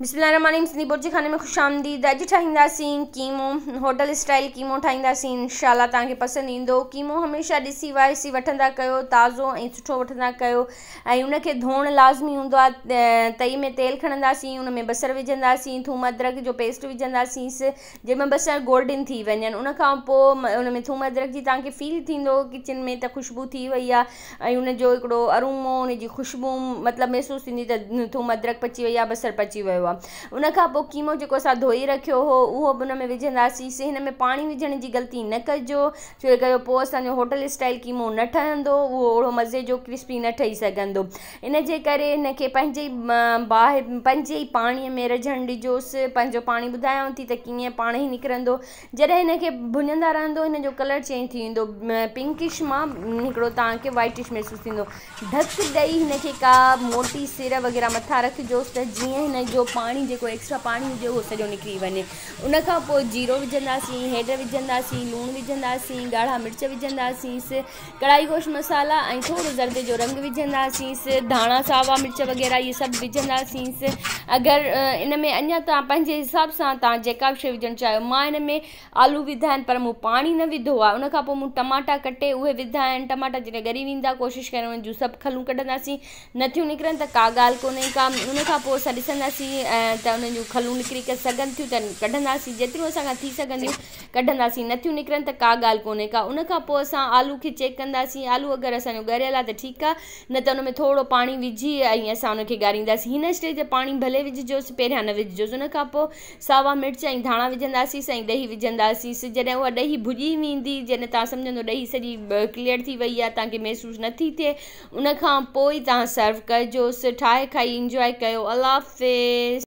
بسم الله الرحمن الرحيم سنڌي بورچي خاني ۾ خوش آمديد اڄ ٺاهينداسين قيمو هوٽل اسٽائل قيمو ٺاهينداسين انشاء الله توهان کي پسند ايندو قيمو هميشه ڏسي وائسي وٺندا ڪيو تازو ۽ سٺو وٺندا ڪيو ۽ ان کي ڌوڻ لازمي هوندو آهي تئي ۾ تيل کڻنداسين ان ۾ بصر وجهنداسين ٿوم ادرڪ جو پيسٽ وجهنداسين جنهن ۾ بصر گولڊن ٿي وڃن ان کان پوء ان ۾ ٿوم ادرڪ جي توهان کي فيل ٿيندو ڪچن ۾ ته خوشبو ٿي وئي آهي ۽ ان جو هڪڙو ارومو ان جي خوشبو مطلب محسوس ٿيندي ته ٿوم ادرڪ پچي وئي آ بصر پچي ويو آ ان کان پوء قيمو جيڪو اسان ڌوئي رکيو هو اهو به ان ۾ وجهنداسين سي هن ۾ پاڻي وجهڻ جي غلطي نه ڪجو ڇو جي ڪري پوء اسان جو هوٽل اسٽائل قيمو نه ٺهندو اهو اوڙو مزي جو ڪرسپي نه ٺهي سگهندو ان جي ڪري هن کي پنهنجي ئي باهه پنهنجي ئي پاڻي ۾ رجهڻ ڏجوس پنهنجو پاڻي ٻڌايانو ٿي ته ڪيئن پاڻي نڪرندو جڏهن هن کي ڀڃندا رهندو هن جو ڪلر چينج ٿي ويندو پنڪش مان هڪڙو توهان کي وائٽش محسوس ٿيندو ڍڪ ڏئي هن کي ڪا موٽي سير وغيره مٿان رکجوس ته جيئن هن جو پاڻي جيڪو ايڪسٽرا پاڻي هجي اهو سڄو نڪري وڃي ان کان پوء جيرو وجهنداسين هيڊ وجهنداسين لوڻ وجهنداسين ڳاڙها مرچ وجهنداسين ڪڙائي گوشت مصالحا ۽ ٿورو زردي جو رنگ وجهنداسينس ڌاڻا ساوا مرچ وغيره اهي سڀ وجهنداسينس اگر ان ۾ اڃان تان پنهنجي حساب سان تان جيڪا به شي وجهڻ چاهيو مان ان ۾ آلو وڌا آهن پر مون پاڻي نه وڌو آهي ان کان پوء مون ٽماٽا ڪٽي اهي وڌا آهن ٽماٽا جڏهن ڳري ويندا ڪوشش ڪريو ان جون سڀ کلون ڪڍنداسين نٿيون نڪرن ته ڪا ڳالهه ڪونهي ڪا ان کان پوء اسان ڏسنداسين ته انهن جون کلون نڪري سگهن ٿيون ته ڪڍنداسين جيتريون اسان کان ٿي سگهنديون ڪڍنداسين نٿيون نڪرن ته ڪا ڳالهه ڪونهي ڪا ان کان پوء اسان آلو کي چيڪ ڪنداسين آلو اگري اسان جو ڳريل آهي ته ٺيڪ آهي نه ته ان ۾ ٿورڙو پاڻي وجهي ۽ اسان ان کي ڳارينداسين هن اسٽيج تي پاڻي ڀلي وجهجوس پهريان نه وجهجوس ان کان پوء ساوا مرچ ۽ ڌاڻا وجهنداسيس ۽ ڏهي وجهنداسيس جڏهن اها ڏهي ڀڄي ويندي جڏهن تان سمجهندو ڏهي سڄي ڪليئر ٿي وئي آهي تان کي محسوس نٿي ٿئي ان کان پوء تان سرو ڪجوس ٺاهي کائي انجواء ڪيو الله حافظ.